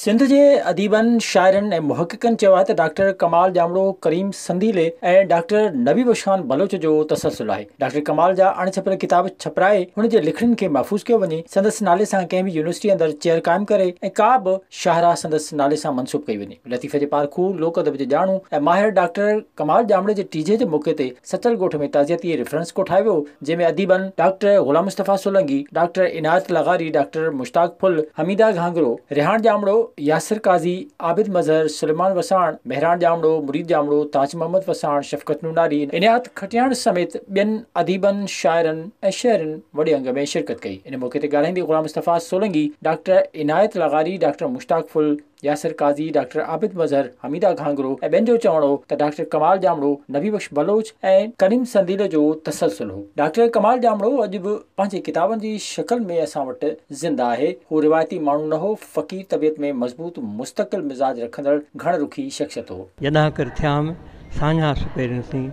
سنڌ جي اديبن، شاعرن ۽ محققن چيو آهي ته ڊاڪٽر ڪمال ڄامڙو، ڪريم سنديلي ۽ ڊاڪٽر نبي بخشان بلوچ جو تسلسل آهي. ڊاڪٽر ڪمال جا اڻ ڇپيل ڪتاب ڇپرائي هن جي لکڻين کي محفوظ ڪيو وڃي، سندس نالي سان ڪنهن به يونيورسٽي اندر چيئر قائم ڪري ۽ ڪا به شاهراهه سندس نالي سان منسوب ڪئي وڃي. لطيفي جي پارکو، لوڪ ادب جي ڄاڻو ۽ ماهر ڊاڪٽر ڪمال ڄامڙي جي ٽيجهي جي موقعي تي سچل ڳوٺ ۾ تعزيتي ريفرنس ڪوٺايو ويو، جنهن ۾ اديبن ڊاڪٽر غلام مصطفيٰ سولنگي، ڊاڪٽر عنايت لغاري، ڊاڪٽر مشتاق ڦل، حميده گهانگرو، ريحان ڄامڙو، ياسر قاضي، عابد مظهر، سليمان وساڻ، مهراڻ ڄامڙو، مريد ڄامڙو، تاج محمد وساڻ، شفقت نوناري، عنايت کٽياڻ سميت ٻين اديبن، شاعرن ۽ شهرين وڏي انگ ۾ شرڪت ڪئي. ان موقعي تي ڳالهائيندي غلام مصطفيٰ سولنگي، ڊاڪٽر عنايت لغاري، ڊاڪٽر مشتاق ڦل، ياسر قاضي، ڊاڪٽر عابد مظهر، حميده گهانگرو ۽ ٻين جو چوڻ هو ته ڊاڪٽر ڪمال ڄامڙو، نبي بخش بلوچ ۽ ڪريم سنديلي جو تسلسل هو. ڊاڪٽر ڪمال ڄامڙو اڄ به پنهنجي ڪتابن جي شڪل ۾ اسان وٽ زنده آهي. هو روايتي ماڻهو نه هو، فقير طبيعت ۾ مضبوط مستقل مزاج رکندڙ گهڻ رخي شخصيت هو. جڏهن ڪر ٿيام ساڃاهه سپهرين سين،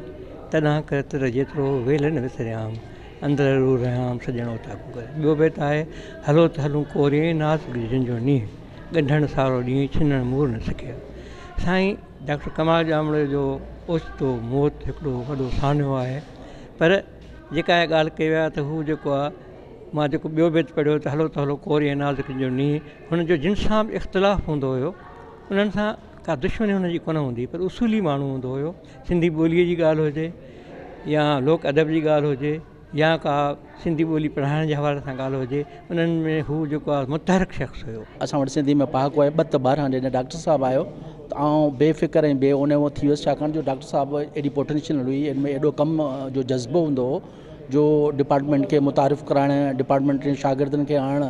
تڏهن ڪر تر جيترو ويلهه نه وسريام، اندر روح رهيام سڄڻ اوطاقون ڪري. ٻيو بيت آهي، هلو ته هلون ڪوريئي ناز ڳجهن جو نينهن. ڳڍڻ سارو ڏينهن ڇنڻ مور نه سڪيا. سائين ڊاڪٽر ڪمال ڄامڙي جو اوچتو موت هڪڙو وڏو سانحو آهي پر جيڪا اها ڳالهه ڪئي وئي آهي ته هو جيڪو آهي مان جيڪو ٻيو بيت پڙهيو ته هلو ته هلو ڪوري ۽ نازڪ جو نينهن هن جو جن سان به اختلاف هوندو هيو انهن سان ڪا دشمني هن جي ڪونه هوندي هئي پر اصولي ماڻهو هوندو هيو سنڌي ٻوليء جي ڳالهه هجي يا لوڪ ادب جي ڳالهه هجي يا ڪا سنڌي ٻولي پڙهائڻ جي حوالي سان ڳالهه هجي انهن ۾ هو جيڪو آهي متحرڪ شخص هيو. اسان وٽ سنڌي ۾ پهاڪو آهي ٻه ته ٻارهن جڏهن ڊاڪٽر صاحب آيو ته آئون بي فڪر ۽ بي اونئون ٿي ويس ڇاڪاڻ جو ڊاڪٽر صاحب ايڏي پوٽينشل هئي ان ۾ ايڏو ڪم جو جذبو هوندو هو جو ڊپارٽمينٽ کي متعارف ڪرائڻ ڊپارٽمينٽ جي شاگردن کي آڻڻ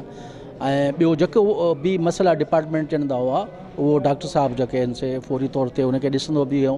۽ ٻيو جيڪو به مسئلا ڊپارٽمينٽ جا هوندا هئا اهو ڊاڪٽر صاحب جيڪي آهن سي فوري طور تي ان کي ڏسندو به هيو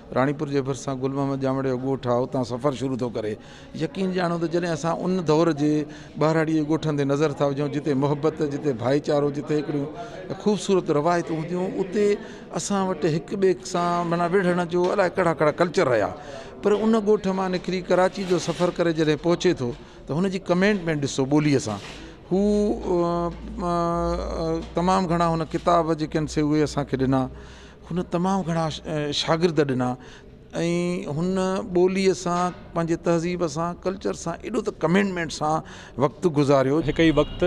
راڻيپور جي ڀرسان گل محمد ڄامڙي جو ڳوٺ آهي، اتان سفر شروع ٿو ڪري. يقين ڄاڻو ته جڏهن اسان ان دور جي ٻهراڙيء جي ڳوٺن تي نظر ٿا وجهون، جتي محبت، جتي ڀائيچارو، جتي هڪڙيون خوبصورت روايتون هونديون، اتي اسان وٽ هڪ ٻئي سان معنيٰ وڙهڻ جو الائي ڪهڙا ڪهڙا ڪلچر رهيا. پر ان ڳوٺ مان نڪري ڪراچيء جو سفر ڪري جڏهن پهچي ٿو ته هن جي ڪمينٽ ۾ ڏسو ٻوليء سان هو تمام گهڻا هن ڪتاب جيڪي آهن سي اهي اسان کي ڏنا. هن تمام گهڻا شاگرد ڏنا ۽ هن ٻوليء سان پنهنجي تهذيب سان ڪلچر سان ايڏو ته ڪمينٽمينٽ سان وقت گذاريو. هڪ ئي وقت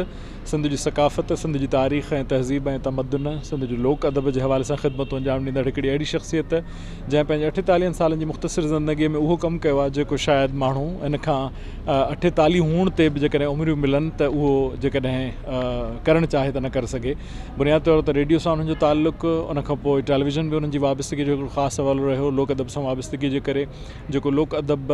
سنڌ جي ثقافت، سنڌ جي تاريخ ۽ تهذيب ۽ تمدن، سنڌ جي لوڪ ادب جي حوالي سان خدمتون انجام ڏيندڙ هڪڙي اهڙي شخصيت جنهن پنهنجي اٺيتاليهن سالن جي مختصر زندگيء ۾ اهو ڪم ڪيو آهي جيڪو شايد ماڻهو هن کان اٺيتاليهه هئڻ تي به جيڪڏهن عمريون ملن ته اهو جيڪڏهن ڪرڻ چاهي ته نه ڪري سگهي. بنياد طور ته ريڊيو سان انهن جو تعلق ان کان پوء ٽيليويزن به انهن جي وابستگي جو هڪڙو خاص حوالو رهيو لوڪ ادب سان وابستگي جي ڪري جيڪو لوڪ ادب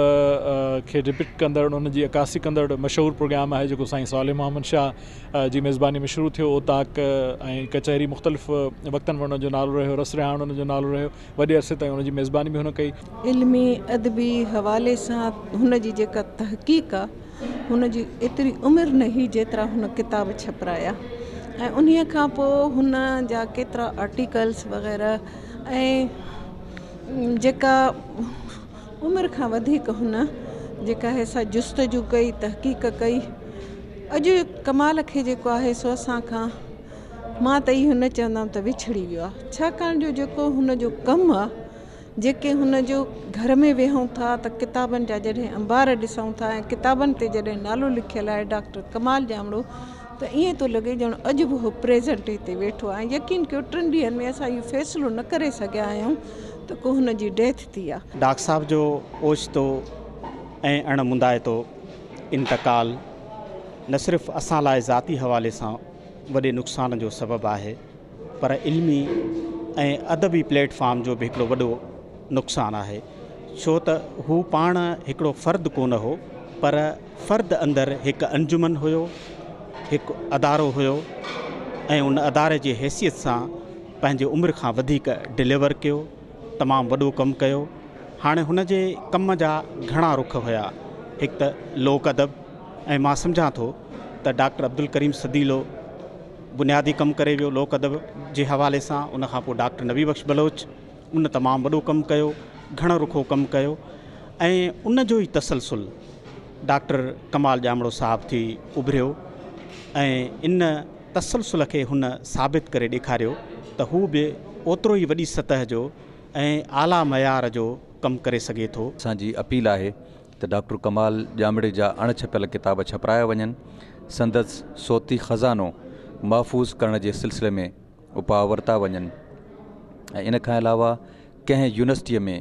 کي ڊپڪٽ ڪندڙ ان جي عڪاسي ڪندڙ مشهور پروگرام آهي جيڪو سائين صالح محمد شاهه جي ميزباني ۾ شروع ٿيو اوطاق ۽ ڪچهري مختلف وقتن ۾ ان جو نالو رهيو رس رهاڻ ان جو نالو رهيو وڏي عرصي تائين ان جي ميزباني به هن ڪئي علمي ادبي حوالي سان هن جي جيڪا تحقيق آهي هن جي ايتري عمر نه هئي جيترا هن ڪتاب ڇپرايا ۽ انهيء کان پوء هن جا ڪيترا آرٽيڪلس وغيره ۽ جيڪا عمر کان وڌيڪ هن جيڪا هي سا جستجو ڪئي تحقيق ڪئي اڄ ڪمال کي جيڪو آهي سو اسان کان مان ته اهو نه چوندم ته وڇڙي ويو آهي ڇاڪاڻ جو جيڪو هن جو ڪم آهي جيڪي هن جو گهر ۾ ويهون ٿا ته ڪتابن جا جڏهن انبار ڏسون ٿا ۽ ڪتابن تي جڏهن نالو لکيل آهي ڊاڪٽر ڪمال ڄامڙو ته ائين ٿو لڳي ڄڻ اڄ به هو پريزنٽ هتي ويٺو آهي يقين ڪيو ٽن ڏينهن ۾ اسان اهو فيصلو نه ڪري سگهيا آهيون ته ڪو هن جي ڊيٿ ٿي آهي. ڊاڪٽر صاحب جو اوچتو ۽ اڻ مندائتو انتقال نه صرف اسان لاء ذاتي حوالي سان وڏي نقصان جو سبب آهي، پر علمي ۽ ادبي پليٽ فارم جو به هڪڙو وڏو نقصان آهي ڇو ته هو پاڻ هڪڙو فرد ڪونه هو پر فرد اندر هڪ انجمن هيو هڪ ادارو هيو ۽ ان اداري جي حيثيت سان پنهنجي عمر کان وڌيڪ ڊليور ڪيو تمام وڏو ڪم ڪيو هاڻي هن جي ڪم جا گهڻا رخ هيا هڪ ته لوڪ ادب ۽ مان سمجهان ٿو ته ڊاڪٽر عبدالڪريم سديلو بنيادي ڪم ڪري ويو لوڪ ادب جي حوالي سان ان کان پوء ڊاڪٽر نبي بخش بلوچ ان تمام وڏو ڪم ڪيو گهڻ رخو ڪم ڪيو ۽ ان جو ئي تسلسل ڊاڪٽر ڪمال ڄامڙو صاحب ٿي اڀريو ۽ ان تسلسل کي هن ثابت ڪري ڏيکاريو ته هو به اوترو ئي وڏي سطح جو ۽ اعليٰ معيار جو ڪم ڪري سگهي ٿو. اسان جي اپيل آهي ته ڊاڪٽر ڪمال ڄامڙي جا اڻ ڇپيل ڪتاب ڇپرايا وڃن، سندس صوتي خزانو محفوظ ڪرڻ جي سلسلي ۾ اپاء ورتا وڃن ۽ ان کان علاوه ڪنهن يونيورسٽيء ۾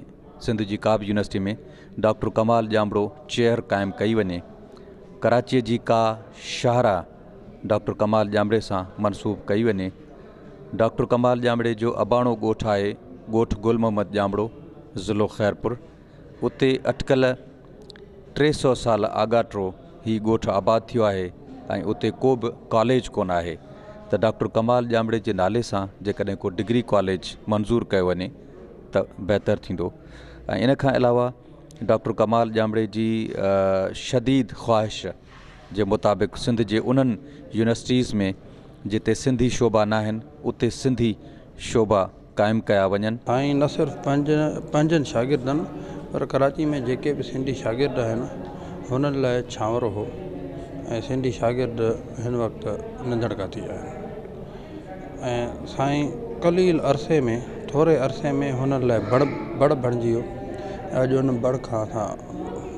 سنڌ جي ڪابه يونيورسٽيء ۾ ڊاڪٽر ڪمال ڄامڙو چيئر قائم ڪئي وڃي. ڪراچيء جي ڪا شاهراهه ڊاڪٽر ڪمال ڄامڙي سان منسوب ڪئي وڃي. ڊاڪٽر ڪمال ڄامڙي جو اباڻو ڳوٺ آهي ڳوٺ گل محمد ڄامڙو، ضلعو خيرپور. اتي اٽڪل ٽي سؤ سال آڳاٽو هي ڳوٺ آباد ٿيو آهي ۽ اتي ڪو به ڪاليج ڪونه آهي ته ڊاڪٽر ڪمال ڄامڙي جي نالي سان جيڪڏهن ڪو ڊگري ڪاليج منظور ڪيو وڃي ته بهتر ٿيندو ۽ ان کان علاوه ڊاڪٽر ڪمال ڄامڙي جي شديد خواهش جي مطابق سنڌ جي انهن يونيورسٽيز ۾ جتي سنڌي شعبا ناهن اتي سنڌي شعبا قائم ڪيا وڃن. ۽ نه صرف پنهنجن شاگردن پر ڪراچي ۾ جيڪي به سنڌي شاگرد آهن هنن لاء ڇانور هو ۽ سنڌي شاگرد هن وقت ننڌڻ ڪاٿي آهن ۽ سائين قليل عرصي ۾ ٿوري عرصي ۾ هنن لاء بڙ بڙ بڻجي ويو ۽ اڄ ان بڙ کان اسان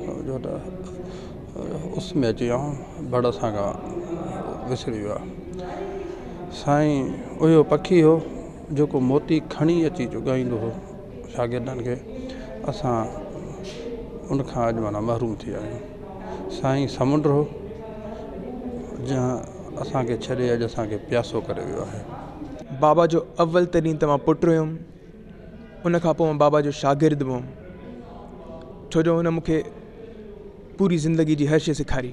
سمجهو ته اس ۾ اچي ويا آهيون بڙ اسان کان وسري ويو آهي سائين اهو پکي هو جيڪو موتي کڻي اچي چگائيندو هو شاگردن کي اسان ان کان اڄ مانا محروم ٿي ويا آهيون سائين سمنڊ هو جنهن اسانکي ڇڏي اڄ اسانکي پياسو ڪري ويو آهي بابا جو اول ترين ته مان پٽ هيم ان کان پوء بابا جو شاگرد به هيم ڇو جو هن مونکي پوري زندگي جي هر شي سيکاري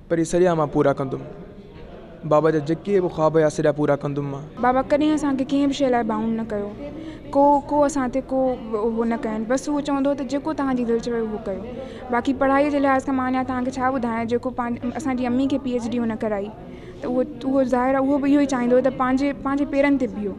پر هي سريا مان پورا ڪندم. بابا جا جيڪي به خواب هيا سريا پورا ڪندم مان. بابا ڪڏهن اسان کي ڪنهن به شيء لاء بائونڊ نه ڪيو. ڪو ڪو اسان تي ڪو اهو نه ڪين. بس اهو چوندو هو ته جيڪو توهان جي دل چوي اهو ڪيو. باقي پڙهائي جي لحاظ کان مان اڃا توهان کي ڇا ٻڌايان جيڪو پنهنجي اسان جي امي کي پي ايڇ ڊي هن ڪرائي ته اهو اهو ظاهر آهي اهو به اهو ئي چاهيندو هو ته پنهنجي پنهنجي پيرن تي بيهو.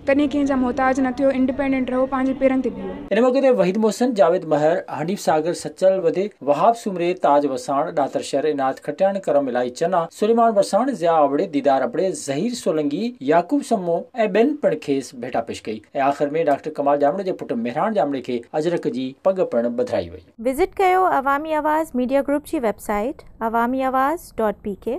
ڪڏهن ڪنهن جا محتاج نه ٿيو، انڊپينڊنٽ رهو، پنهنجي پيرن تي بيهو. ان موقعي تي وحيد محسن، جاويد مهر، حنيف ساگر، سچل وڌي، وهاب سومري، تاج وساڻ، ڏاتر شر، عنايت کٽياڻ، ڪرم الاهي چنا، سليمان وساڻ، ضياء ابڙي، ديدار ابڙي، ظهير سولنگي، يعقوب سمو ۽ ٻين پڻ کيس ڀيٽا پيش ڪئي ۽ آخر ۾ ڊاڪٽر ڪمال ڄامڙي جي پٽ مهراڻ ڄامڙي کي اجرڪ جي پڳ پڻ ٻڌرائي وئي. وزٽ ڪيو عوامي آواز ميڊيا گروپ جي website Awami Awaz dot P ڪي.